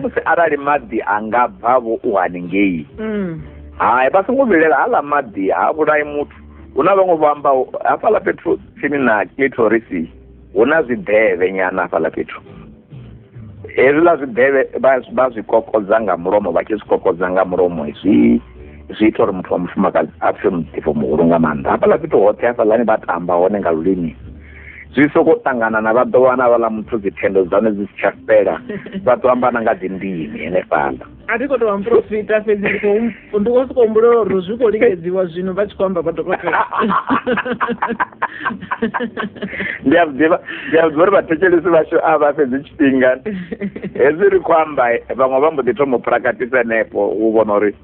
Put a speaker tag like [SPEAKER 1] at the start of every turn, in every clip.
[SPEAKER 1] musi arali maḓi a nga bva vho u haningei mm. hai vha songo vhilela hala maḓi ha vhulai muthu hu na vhaṅwe vho ambaho hafhaḽa fhethu tsini na clitorisi hu na zwiḓevhe nyana hafhaḽa fhethu hezwiḽa zwiḓevhe vha zwi kokodza nga mulomo vha tshi zwi kokodza nga mulomo zwi zwi ita uri muthu wa mufumakadzi a pfhe muḓifho muhulu nga maanḓa hafhaḽa fhethu hoṱhe hafhaḽani vha tamba hone nga lulimi zwi soko ṱangana na vha ḓo wana vhaḽa muthu dzithendo dzane dzi si tsha fhela vha ḓo amba na nga dzindini henefhaḽa a thi khou tou vha
[SPEAKER 2] muprofita fhedzi ndi khou sokou humbula uri zwi khou lingedziwa zwino vha tshi khou amba madokotela
[SPEAKER 1] ndi a ḓivha ndi a ḓivha uri vhathetshelisi vhashu a vha fhedzi tshifhinga hezwi ri khou amba vhaṅwe vha mbo ḓi thoma u prakatisa henefho u vhona uri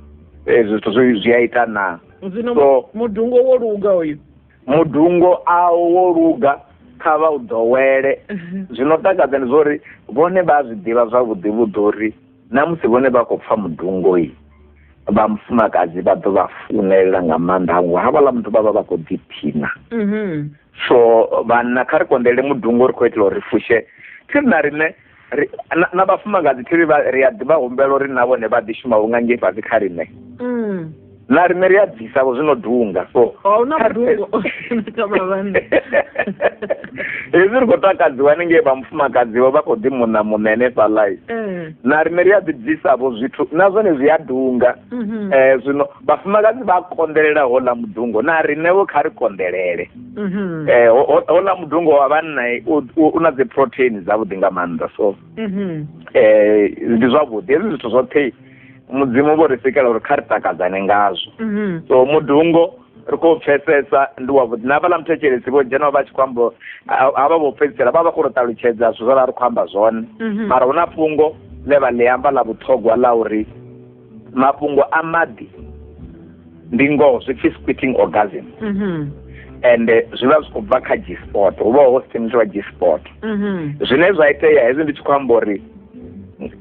[SPEAKER 1] eh, zwithu zwi a ita na zwino
[SPEAKER 2] mudungo wo luga uyu mudungo
[SPEAKER 1] awo wo luga kha vha u ḓowele mhm. zwino takadza ndi zwori vhone vha zwi ḓivha zwavhuḓi vhuḓi uri na musi vhone vha khou pfa mudungo yi vha mufumakadzi vha ḓo vha funelela nga maanḓa ngo ha vhala muthu vha vha vha khou ḓiphina mhm. so vhanna kha ri konḓele mudungo ri khou itela uri fushe thiri na riṋe ri na, na vhafumakadzi thiri vha ri a ḓivha humbela uri na vhone vha ḓi shuma vhunga ngei fhasi kha riṋe mm. na riṋe ri a bvisa vho zwino dunga so hezwi ri khou takadziwa hanengei vha mufumakadzi vho vha khou ḓi muṋa muṋa henefhaḽai eh. na riṋe ri a ḓi bvisa vho zwithu na zwone zwi a dunga um zwino vhafumakadzi vha konḓelela hola mudungo na riṋewo kha ri konḓelele um mhm. eh, hola mudungo wa vhanna u na dzi protein dzavhuḓi nga maanḓa so um ndi zwavhuḓi hezwi zwithu zwoṱhe mudzimu vho ri sikela uri kha ri takadzane ngazwo mhm. so mudungo ri khou pfesesa ndi wavhuḓi na vhaḽa muthetshelesi vho dzhena vha tshi khou amba havha vho fhedzisela vha vha khou ri ṱalutshedza zwithu zwa vha ri khou amba zwone mara hu na fhungo ḽe vha ḽi amba ḽa vhuṱhogwa ḽa uri mafhungo a maḓi ndi ngoho zwi pfi squitting orgasm mm -hmm. and eh, zwi vha zwi khou bva kha g sport hu vha hosting zwi vha g sport mm -hmm. zwine zwa itea hezwi ndi tshi khou amba uri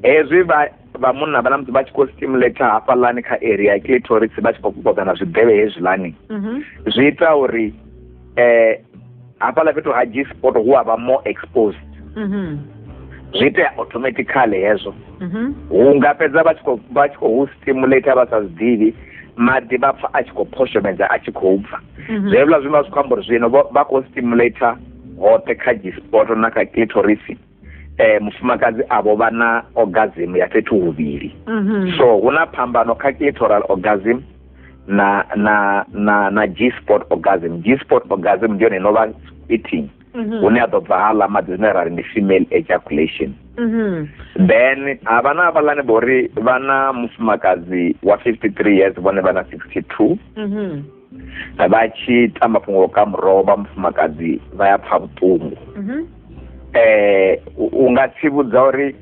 [SPEAKER 1] hezwi vha vha munna vha na musi vha tshi khou stimulator hafhaḽani kha area clitoris vha tshi khou kukogana zwidevhe hezwiḽani mm -hmm. zwi ita uri eh hafhaḽa fhethu ha g spot hu a vha more exposed mhm. zwi itea automatically hezwo mhm. hu nga fhedza vha tshi khou vha tshi khou stimulate vha sa zwiḓivhi maḓi vha pfa a tshi khou phoshomedza a tshi khou bva mhm. zwevhuḽa zwivha zwi khou amba uri zwino vha khou stimulator hoṱhe kha g spot na kha clitoris eh mufumakadzi a vho vha na orgasm ya fhethu huvhili mhm. so hu na phambano kha clitoral orgasm na na na na G spot orgasm G spot orgasm ndi yone no vha eating mhm. hune a ḓo bva haḽa maḓi zwine ra ri ndi female ejaculation mhm. then a vha na vhalani vho ri vha na mufumakadzi wa 53 years vhone vha na 62 vha tshi ita mafhungo ka muroho vha mufumakadzi vha ya pfa vhuṱungu mhm. eh u nga tsivhudza uri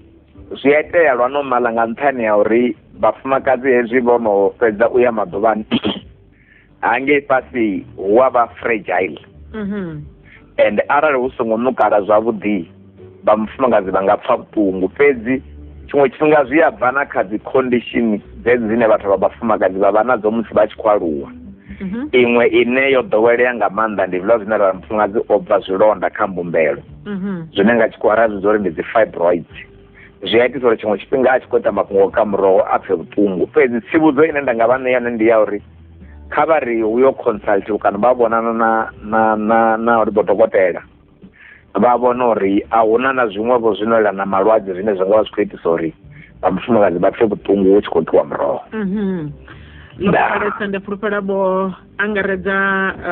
[SPEAKER 1] zwi a itea lwa no mala nga nṱhani ya uri vhafumakadzi hezwi vho no fhedza u ya maḓuvhani hangei fhasi hu a vha fragile mhm. ende arali hu songo nukala zwavhuḓi vha mufumakadzi vha nga pfa vhuṱungu fhedzi tshiṅwe tshifhinga zwi a bva na kha dzi condition dzedzi dzine vhathu vha vhafumakadzi vha vha nadzo musi vha tshi khou aluwa mhm. iṅwe ine yo ḓowelea nga maanḓa ndi vhila zwine ra mufumakadzi o bva zwilonda kha mbumbelo mhm. zwine nga tshikhuwa ra zwi dza uri ndi dzi fibroids zwi a itisa uri tshiṅwe tshifhinga a tshi khou ita mafhungo o ka muroho a pfhe vhuṱungu fhedzi tsivhudzo ine nda nga vha ṋea yone ndi ya uri kha vha ri uyo consult kana vha vhonana na na na na uri vho dokotela vha vhona uri a huna na zwiṅwevho zwino lela na malwadze zwine zwi nga vha zwi khou itisa uri vha mufumakadzi vha pfhe vhuṱungu hu tshi khou ṱhiwa muroho
[SPEAKER 2] mhm. nda ndi fulufhela vho angaredza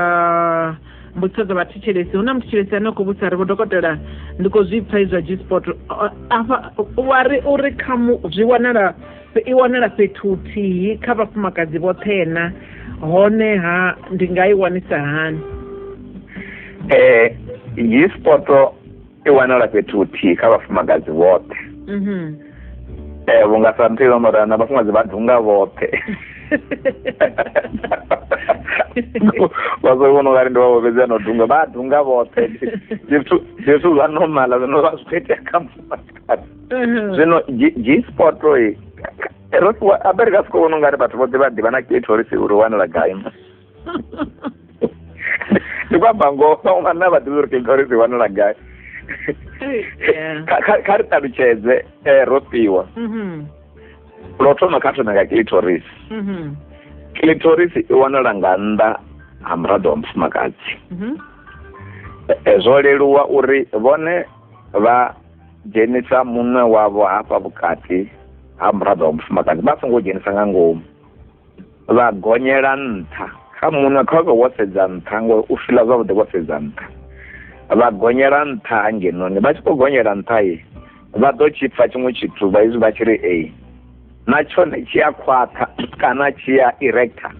[SPEAKER 2] uh, mbudziso dza vhathetshelesi hu na muthetshelesi ane khou vhudzisa ri vho dokotela ndi khou zwi pfa izwa gsport afha wa ri uri kha zwi wanala i wanala fhethu huthihi kha vhafumakadzi vhoṱhe na honeha ndi nga i wanisa hani um eh,
[SPEAKER 1] gsport i wanala fhethu huthihi kha vhafumakadzi vhoṱhe mhm. eh vhunga sa nthihi vha mara na vhafumakadzi vha dunga vhoṱhe vhazo vhono nga ri ndi vhavho fhedzi ano dunga vha dunga vhoṱhe ndi zwithu zwa normal zwino vha zwi itea kha mufumakadzi mhm. zwino g sport ro fhiwa amerika siko vhono nga ri vhathu vhoṱhe vha ḓivha na kethorisi uri wanala gai ndi ku amba ngoho vhaṅwe vhanna vha ḓivhi uri kilgori dzi wanala gai kha ri ṱalutshedze eh, ro fhiwa mm-hmm. lwa thoma kha thome nga clitoris mm-hmm. clitoris i wanala nga nnḓa ha muraḓo wa mufumakadzi mm-hmm. eh, eh, zwo leluwa uri vhone vha dzhenisa muṅwe wavho hafha vhukati ha muraḓo wa mufumakadzi vha songo dzhenisa nga ngomu vha gonyela nṱha kha muṋwe kha uvhe wo sedza nṱha ngori u fila zwavhuḓi wo sedza nṱha vha gonyela nṱha hangenoni vha tshi khou gonyela nṱha ye vha ḓo tshi pfa tshiṅwe tshithu vha izwi vha tshi ri ee na tshone tshi a khwaṱha kana tshi a erector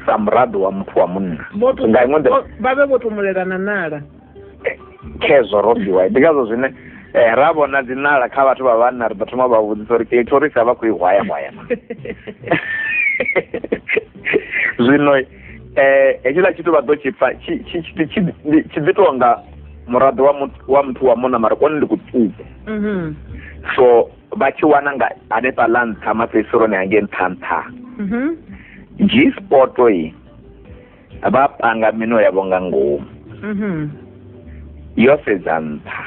[SPEAKER 1] sa muraḓo wa muthu wa munna nga iṅwe nḓila vha
[SPEAKER 2] vhe vho tomulela na nala
[SPEAKER 1] khezwo ro fhiwa ndi ngazwo zwine eh, ra vhona dziṋala kha vhathu vha vhanna ri ḓo thoma vha vhudzisa uri clitoris a vha khou i hwaya hwaya zwino um hetshiḽa tshithu vha ḓo tshi pfa tshi ḓi tou nga muraḓo wa muthu wa muna mara kone ndi kuṱuku mhm. so vha tshi wana nga hanefhaḽa nṱha mafheisironi hangei nṱha nṱha mhm. g spoto i vha panga mino yavho nga ngomu mhm. yo sedza nṱha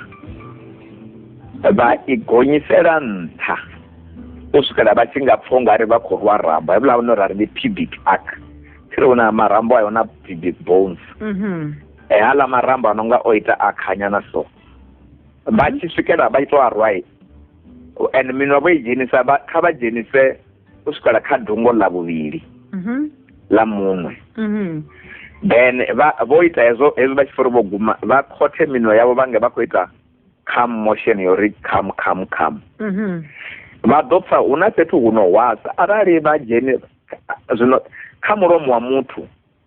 [SPEAKER 1] vha i gonyisela nṱha u swikela vha tshi nga pfa ungari vha khou rwa rambo hevhula vhono ra ri ndi pubic arc tsiri hu na marambo ayo na pubic bones mhm. e hala marambo ano nga o ita a khanyana so vha mhm. tshi swikela vha ito a rwai and mino vho i dzhenisa kha vha dzhenise u swikela kha dungo ḽa vhuvhili mhm. ḽa muṅwe mhm. then vha vho ita hezwo hezwi vha tshi fori vho guma vha khothe minwe yavho vhange vha khou ita come motion yo ri come come come mhm. vha ḓo pfa hu na fhethu hu no hwasa arali vha dzheni zwino kha mulomo wa muthu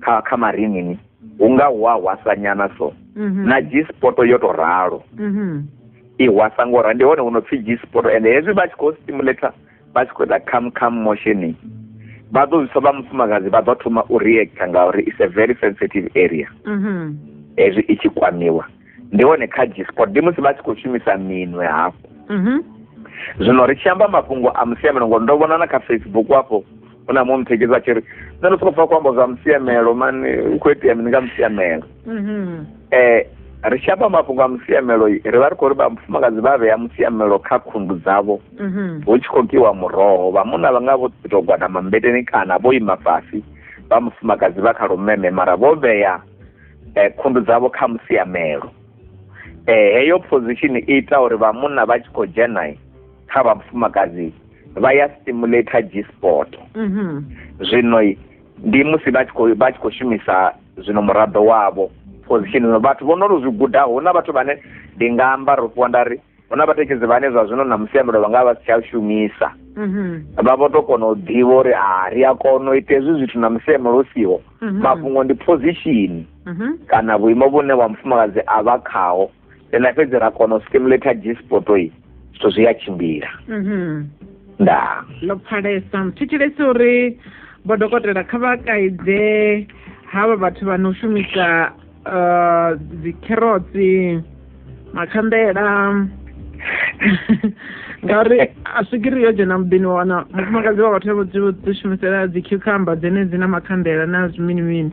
[SPEAKER 1] kha kha marinini hu nga hu a hwasanyana so mhm. na gisipoto yo to ralo mhm. i hwasa ngo ra ndi hone hu no pfi gisipoto ende hezwi vha tshi khou stimulator vha tshi khou ita come come motioning vha ḓo zwisa vha mufumakadzi vha ḓo thoma u reacta ngauri it's a very sensitive area mhm. hezwi i tshi kwamiwa ndi hone kha gisipoto ndi musi vha tshi khou shumisa minwe hafho zwino ri tshi amba mafhungo a musiamelongo ndo vhona na kha facebook wafho u na muṅwe muthekezi a tshi ri nṋe ndi sokou pfa ku amba zwa musiamelo mani u khou itea mini nga musiamelo um ri tshi amba mafhungo a musiamelo ri vha ri khou ri vhafumakadzi vha vhea musiamelo kha khundu dzavho mhm. hu tshi khou kiwa muroho vhamunna vha nga vho tou gwada mambeteni kana vho ima fhasi vha mufumakadzi vha kha lumeme mara vho vhea um khundu dzavho kha musiamelo um heyo position i ita uri vhamunna vha tshi khou dzhena kha vhafumakadzi vha ya stimulator g sport mhm. zwino ndi musi vha tshi khou shumisa zwino muraḓo wavho position zwino vhathu vho no lu zwi gudaho hu na vhathu vhane ndi nga amba ro fhiwa nda ri hu na vhatekedzi vhane zwa zwino na musiambelo vha nga vha si tsha shumisa mhm. vha vho to kona u ḓivha uri ha ri a kona u ita hezwi zwithu na musiambelo siho mhm. mafhungo ndi position mhm. kana vhuimo vhune wa mufumakadzi a vha khaho then a fhedzi ra kona u stimulator g spotoi zwithu zwi a tshimbila mhm. ndaa ḽo pfhalesa
[SPEAKER 2] thetshelesi uri vho dokotela kha vha kaidze havha vhathu vha no shumisa uh, dzikherotsi makhanḓela ngauri a swigiri yo dzhena muḓini wa wana mufumakadzi wa vhathu vho dzi shumisela dzi cucumber dzenedzi na makhanḓela na zwi mini mini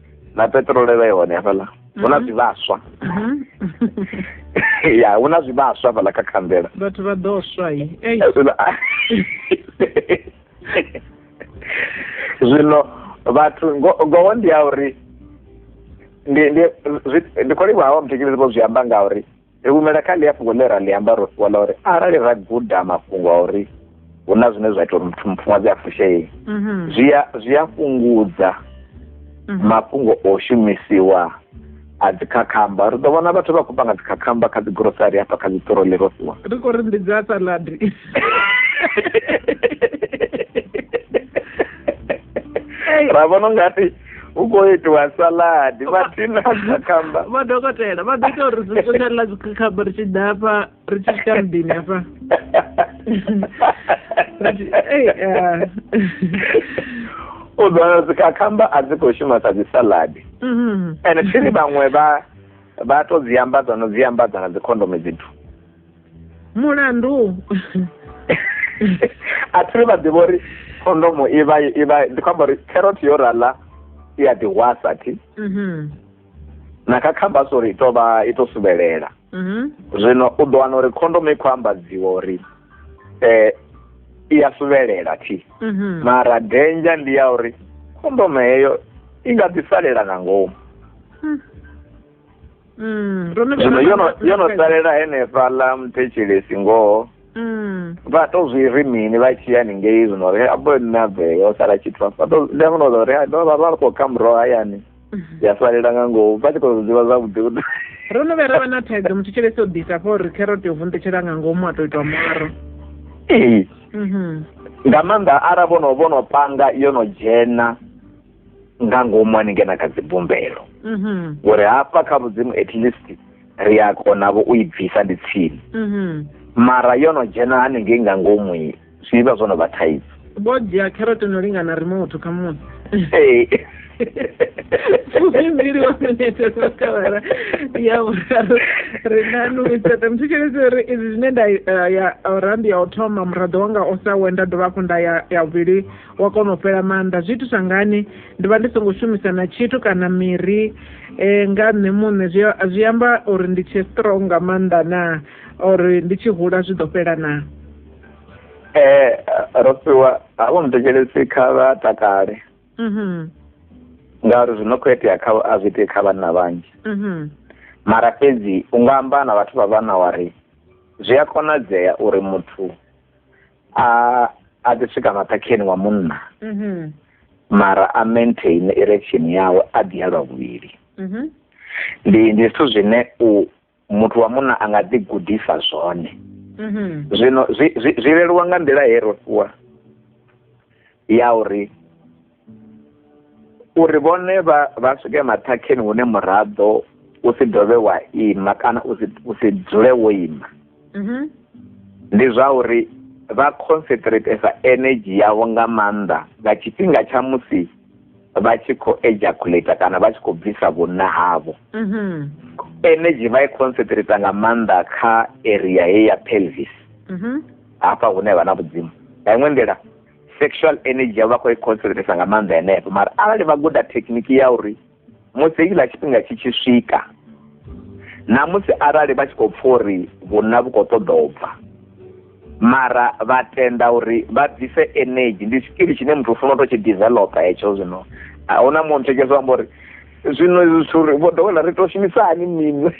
[SPEAKER 1] na peṱirolo vha i hone hafhaḽa hu na mhm. zwivhaswa mhm. ya hu na zwivhaswa hafhaḽa kha khanḓela vhathu vha ḓo
[SPEAKER 2] swa
[SPEAKER 1] zwino vhathu ngoho ndi ya uri ndi ndi ndi khou livhuwa hawa muthetshelezi vho zwi amba ngauri ri humela kha ḽia fhungo ḽe ra ḽi amba ro fhiwa ḽa uri arali ra guda mafhungo a uri hu na zwine zwa ita muthu mupfumwadzi a fushei mhm. zwi a zwi a fhungudza mhm. mafhungo o shumisiwa a dzikhakhamba ri ḓo vhona vhathu vha khou panga dzikhakhamba kha dzigrosari hafha kha dziṱoro ḽi ro fhiwa ri khou ri ndi dza
[SPEAKER 2] saladi
[SPEAKER 1] ra vhona ungati hu khou itiwa saladi vha thina zwakhamba vha dokotela vha ḓo
[SPEAKER 2] ita uri ri songo tsha ḽa zwikhamba ri tshi ḓa hafha ri tshi swika muḓini
[SPEAKER 1] hafha u ḓo dzikhakhamba a dzi khou shuma sa dzi saladi mm-hmm. ende thiri vhaṅwe vha vha to dzi ambadzana dzi ambadzana dzi khondomo dzithu mulandu a thi ri vha ḓivha uri khondomo i vha i vha ndi khou amba uri carrot yo rala i a ḓihwasa thi mhm. na kha khamba sori i to vha i to subelela mhm. zwino u ḓo wana uri khondomo i khou ambadziwa uri um i ya subelela thi mhm. mara denja ndi ya uri khondomo heyo i nga ḓi salela nga ngomu hmm. Mm, ro no vhuya zwino ra- yo no yo no salela henefhaḽa mthetshelesi ngoho Mm, vha to zwi ri mini vha tshi ya ningei zwino ri abo nna bve yo sala tshithu vha to ndi hafho no ri no vha vha khou kha murahu hayani ya salela nga ngoho vha tshi khou ḓivha zwavhuḓi vhuḓi ro no vhuya ra vha
[SPEAKER 2] na thaidzo muthu tshelesi o ḓisa fo ri kheroti yo vunḓetshela nga ngomu a to itwa maro Ee,
[SPEAKER 1] Mhm. nga maanḓa ara vhono vhono panga yo no dzhena nga ngomu haningena kha dzibumbelo mm-hmm. ngori hafha kha mudzimu at least ri a konavho u i bvisa ndi tsini mm-hmm. mara yo no dzhena haningei nga ngomu zwi vha zwo no vha thaidzo vho dzhia kheroto
[SPEAKER 2] no lingana ri muthu kha muṋe fumimbili wa minete kwakavara ya vhuraru ri na numiseta muthutshelesi uri izwi zwine nda eh, ya rambi ya u thoma muraḓo wanga o sa we nda dovha hafhu nda ya vhuvhili u a kona u fhela maanḓa zwi thusa ngani ndi vha ndi songo shumisa na tshithu kana miri eh, nga nṋe muṋe zwi amba uri ndi tshe strong nga maanḓa na uri ndi tshi hula zwi ḓo fhela na eh
[SPEAKER 1] ro fhiwa havho mutekelesi kha vha takale mhm ngauri zwi no khou itea kha a zwi itee kha vhanna vhanzhi mhm mara fhedzi u nga amba na vhathu vha vhanna wa ri zwi a konadzea uri muthu a a ḓi swika maṱhakheni wa munna mhm. mara a maintain erection yawe a ḓi ya lwa vhuvhili mhm. ndi ndi zwithu zwine u muthu wa munna a nga ḓi gudisa zwone mhm. zwino zwi leluwa nga nḓila he ro fhiwa ya uri uri vhone vha vha swike maṱhakheni hune muraḓo u si dovhe wa ima kana u si u si dzule wo ima mhm. ndi zwa uri vha concentrateesa energy yavho nga maanḓa nga tshifhinga tsha musi vha tshi khou ejaculate kana vha tshi khou bvisa vhunna havho mhm. energy vha i concentrate nga maanḓa kha area he ya pelvis mhm. hafha hune vha na vhudzimu nga iṅwe nḓila sexual energy yavho vha khou i concentrate nga maanḓa henefho mara arali vha guda thekhiniki ya uri musi hetshiḽa tshifhinga tshi tshi swika na musi arali vha tshi khou pfha uri vhunna vhu khou ṱoḓa u bva mara vha tenda uri vha bvise energy ndi tshikili tshine muthu u funa u tou tshi developa hetsho zwino hu na muṅwe muthetshelesi wa amba uri zwino izwi zwithu uri vho dovhela ri tou shumisa hani minwe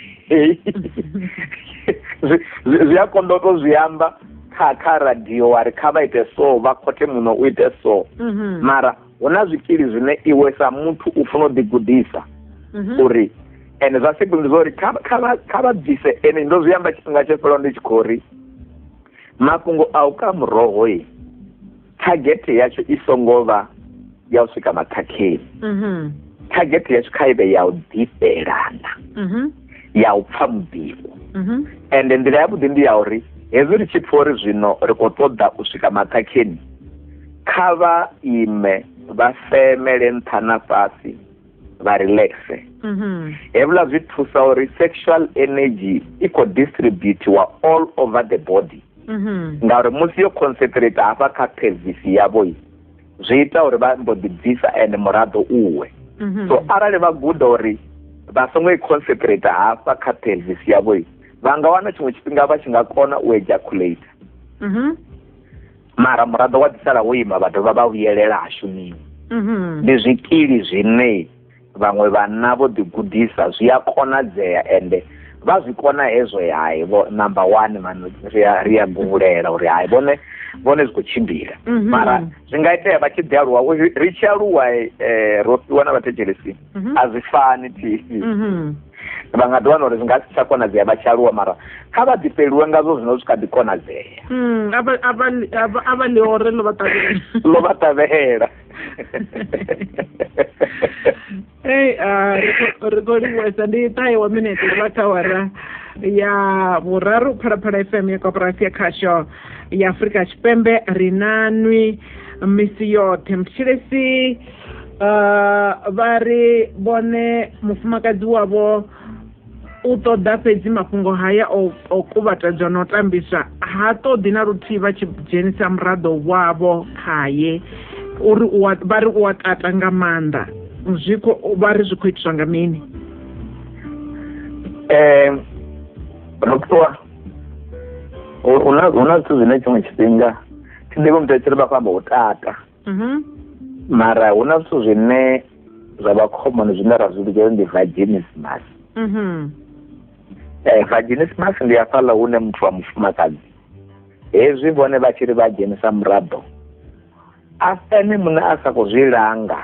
[SPEAKER 1] zwi a konḓa u to zwi amba kha kha radio wa ri kha vha ite so vha khothe muno u ite so mhm. mara hu na zwikili zwine iwe sa muthu u funa u ḓigudisa mhm. uri ende zwa siku ndi zwa uri kha vha bvise ende ndo zwi amba tshifhinga tsho fhelwa ndi tshi khou ri mafhungo a u ka muroho yi target yatsho i songo vha ya u swika makhakheni mhm. target yatsho kha ivhe ya u ḓifhelana mhm. ya u pfa muḓifho mhm. ende nḓila ya vhuḓi ndi ya uri hezwi ri tshi pfa uri zwino ri khou ṱoḓa u swika makhakheni kha vha ime vha femele nṱha na fhasi vha relaxe mm -hmm. hevhula zwi thusa uri sexual energy i khou distributiwa all over the body mm -hmm. ngauri musi yo concentrate hafha kha pelvisi yavhoi zwi ita uri vha mbo ḓi bvisa ene muraḓo uwe mm -hmm. so arali vha guda uri vha songo i concentrate hafha kha pelvisi yavhoi vha nga wana tshiṅwe tshifhinga vha tshi nga kona u ejaculate mm -hmm. mara muraḓo wa ḓisala wo ima vha dovha vha vhuyelela ha shumiwa mhm. ndi zwikili zwine vhaṅwe vhanna vho ḓigudisa zwi a konadzea ende vha zwi kona hezwo hai vho number one man ri a ri a gugulela uri hai vhone vhone zwi khou tshimbila mhm. mara zwi nga itea vha tshi ḓi aluwa ri tshi aluwa eh, ro fhiwa na vhathetshelesi mhm. a zwi fani thihi mhm. vha nga ḓi wana uri zwi nga si tsha konadzea vha tshi aluwa mara kha vha ḓifheliwe ngazwo zwino zwi kha ḓi konadzea hmm,
[SPEAKER 2] a vha ḽiore ḽo vha ṱavhela ḽo vha
[SPEAKER 1] ṱavhela
[SPEAKER 2] ei ah, ri khou livhuwesa ndi ṱahe wa minete ri vha kha wara ya vhuraru phalaphala fm ya koporasi ya khasho ya afurika tshipembe ri na nwi misi yoṱhe mutshilesi uh, vha ri vhone mufumakadzi wavho u ṱoḓa fhedzi mafhungo haya o, o kuvhatedzwa na u tambiswa ha ṱoḓi na luthihi vha tshi dzhenisa muraḓo wavho khaye uri vha ri u a tata nga maanḓa zwi vha ri zwi khou itiswa nga mini um
[SPEAKER 1] rokutiwa hu na zwithu zwine tshiṅwe tshifhinga tshi ḓivha muthu a tshi ri vha khou amba u tata mhm. mara hu na zwithu zwine zwa vha common zwine ra zwi vhidza uri ndi vaginismas mhm. eh, vaginismas ndi hafhaḽa hune muthu wa mufumakadzi hezwi vhone vha tshi ri vha dzhenisa muraḓo a ene muṋe a sa khou zwi langa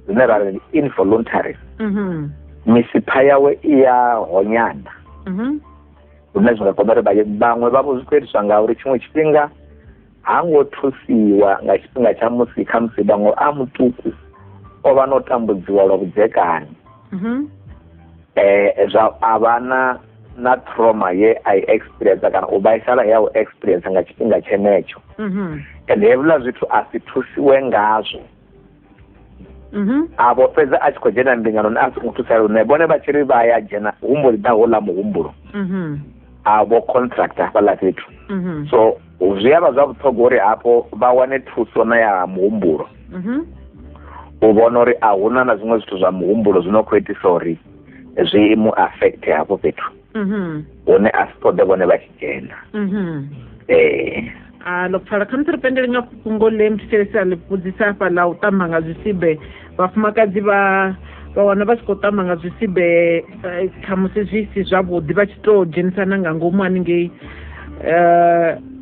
[SPEAKER 1] zwine ra ri involuntary mhm. misipha yawe i ya honyana lune mhm. zwi nga kona uri vhaṅwe vha vho zwi khou itiswa ngauri tshiṅwe tshifhinga ha ngo thusiwa nga tshifhinga tsha musi kha musi vhaṅwe a muṱuku o vha no tambudziwa lwa vhudzekani mhm. eh zwa avhana na trauma ye a i experience kana u vhaisala ya u experience nga tshifhinga tshenetsho mhm. and hevhula zwithu a si thusiwe ngazwo Mhm. avho fhedza a tshi khou dzhena mbinganoni a songo thusa lune vhone vha tshi ri vha ya dzhena humbo ḽi ḓaho ḽa muhumbulo Mhm. a vho contract hafhaḽa fhethu Mhm. so zwi a vha zwa vhuṱhogwa uri hafho vha wane thuso na ya muhumbulo Mhm. u vhona uri a huna na zwiṅwe zwithu zwa muhumbulo zwi no khou itisa uri zwi mu affect hafho fhethu mhm. hune a si ṱoḓe vhone vha tshi dzhena mhm.
[SPEAKER 2] ee a ḽo pfala khamusi ri pendele nga fhungo ḽe mthetshelesi a ḽi vhudzisa hafha ḽa u tamba nga zwisibe vhafumakadzi vha vha wana vha tshi khou tamba nga zwisibe eh, khamusi zwi si zwavhuḓi vha tshi tou dzhenisana nga ngomu haningei um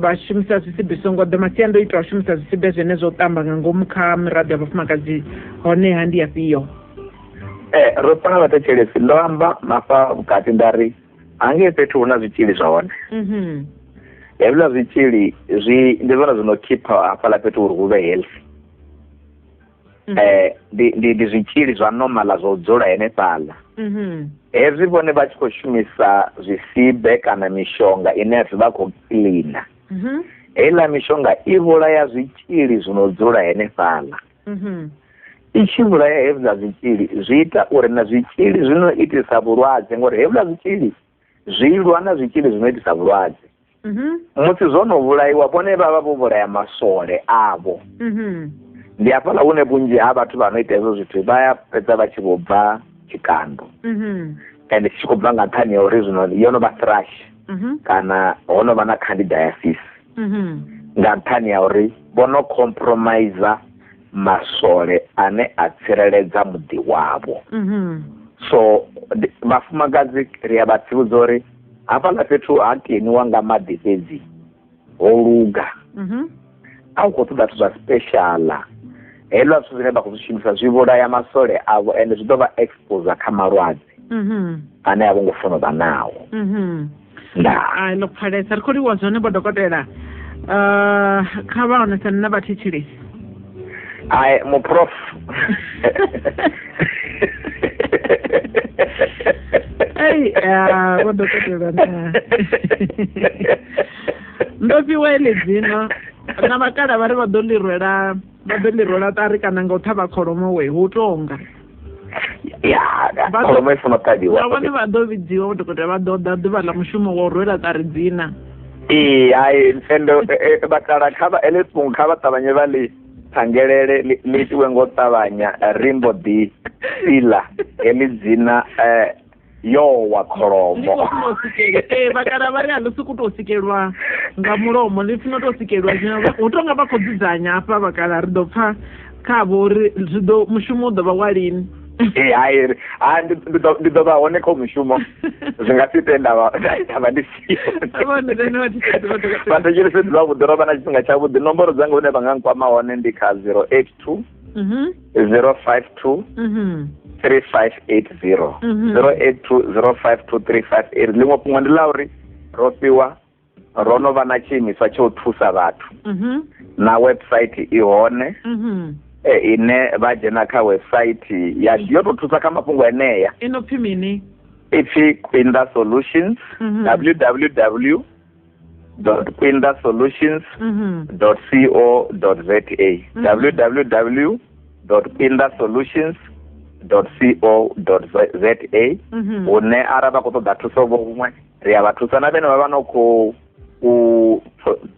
[SPEAKER 2] vha shumisa zwisibe songo ḓe masiandoitwa a shumisa zwisibe zwenezwo u tamba nga ngomu kha miraḓo ya vhafumakadzi honeha ndi afhio eh
[SPEAKER 1] ro fana vha tetshele si ndo amba mafha vhukati nda ri hange fhethu hu na zwitshili zwa hone mhm hevhila zwitshili zwi ndi zwone zwi no khipha hafhaḽa fhethu uri hu vhe healthy mhm. eh ndi ndi ndi zwitshili zwa normal zwa u dzula henefhaḽa mhm hezwi vhone vha tshi khou shumisa zwisibe kana mishonga ine ri vha khou cleaner mhm heiḽa mishonga i vhulaya zwitshili zwi no dzula henefhaḽa mhm. i tshi vhulaya hevula zwitzhili zwi ita uri na zwitzhili zwi no itisa vhulwadze ngori hevula zwitzhili zwi lwa na zwitzhili zwi no itisa vhulwadze mhm. musi zwo no vhulaiwa vhone vha vha vho vhulaya masole avho mhm. ndi hafhaḽa hune vhunzhi ha vhathu vha no ita hezwo zwithu vha ya fhedza vha tshi vho bva tshikando and tshi tshi khou bva nga nṱhani ya uri zwino yo no vha thrush kana ho no vha na candidiasis mhm. nga nṱhani ya uri vho no compromiser maswole ane a tsireledza muḓi wavho mhm. so vhafumakadzi ri a vha tsivhudza uri hafhaḽa fhethu ha keniwa nga maḓi fhedzi ho luga mhm. a u khou ṱoḓa zwithu zwa speciala hezwiḽa zwithu zwine vha khou zwi shumisa zwi vhulaya masole avho ende zwi ḓo vha exposer kha malwadze mhm. ane a vho ngo funa vha nawo mhm.
[SPEAKER 2] ai ḽo pfalesa ri khou liwa zwone vho dokotela um kha vha honesa nna vha thetshelesi
[SPEAKER 1] ai muprof
[SPEAKER 2] ei vho dokotela na ndo fhiwa ele dzina na vhakala vha ri vha ḓo ḽi rwela vha ḓo ḽi rwela ṱari kana nga u ṱhavha kholomo we hu tonga ya
[SPEAKER 1] kholomo i funa ṱhavhiwa na vhone vha ḓo vhidziwa vho
[SPEAKER 2] dokotela vha ḓo ḓa ḓuvha ḽa mushumo wa u rwela ṱari dzina ee hai
[SPEAKER 1] ende eh, vhatala kha vha ele fhungo kha vha ṱavhanye vha ḽi phangelele ḽi itiwe ngo ṱavhanya rimbo ḓi sila heḽi dzina um yoo wa kholomo ndi khou funa u sikelwa ee
[SPEAKER 2] vhakala vha ri a ḽi sokou tou sikelwa nga mulomo ḽi funa tou sikelwa zwino vha- hu tonga vha khou dzudzanya hafha vhakala ri ḓo pfa khavho uri zwi ḓo mushumo u ḓo vha wa lini ee hai ri- ha ndi ndi ḓo- ndi ḓo vha hone kha mushumo zwi nga si te nda vha nda vha ndi Vhone vhene vha thi- vha ḓo- siyo vhathetshelesi fhedzi vha vhuḓi ro vha na tshifhinga tshavhuḓi nomboro dzanga hune vha nga nkwama hone ndi kha zero eight two Mhm. zero five two mhm. three five eight
[SPEAKER 1] zero mhm. zero eight two zero five two three five eight ḽiṅwe fhungo ndi ḽa uri ro fhiwa ro no vha na tshiimiswa tsha u thusa vhathu mhm. na website i hone e, ine vha dzhena kha website ya yo tou thusa kha mafhungo enea i no pfi mini
[SPEAKER 2] ipfi
[SPEAKER 1] quinda solutions www dot kwinda solutions mm-hmm. dot co dot za mm-hmm. www dot kwinda solutions dot co dot za mm-hmm. hune arali vha khou ṱoḓa thuso vho huṅwe ri a vha thusa na vhene vha vha no khou u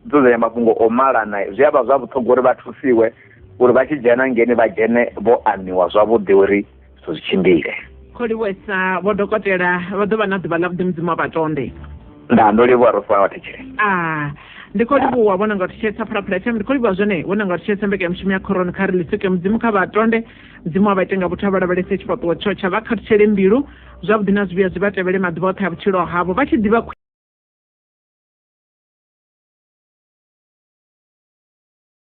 [SPEAKER 1] dzudzanya mafhungo o malana zwi a vha zwa vhuṱhogwa uri vha thusiwe uri vha tshi dzhena ngeni vha dzhene vho aniwa zwavhuḓi uri zwi tshimbile kholiwesa
[SPEAKER 2] vho dokotela vha ḓo vha na ḓuvha ḽa vhuḓi mudzimu wa vhatonde nda ndo livhuwa
[SPEAKER 1] ro funa vhathetshelesi a ndi
[SPEAKER 2] khou livhuwa vhona nga thetshelesa phalaphala fm ndi khou livhuwa zwone vhona nga thetshelesa mbekanyamushumo ya khoroni kha ri lisuke mudzimu kha vhatonde mudzimu wa vha ite nga vhuthu a vha lavhelese tshifhaṱuwo tsho tsha vha khathutshele mbilu zwavhuḓi na zwivhuya zwi vha tevhele maḓuvha oṱhe a vhutshilo havho vha tshi ḓivha khwi-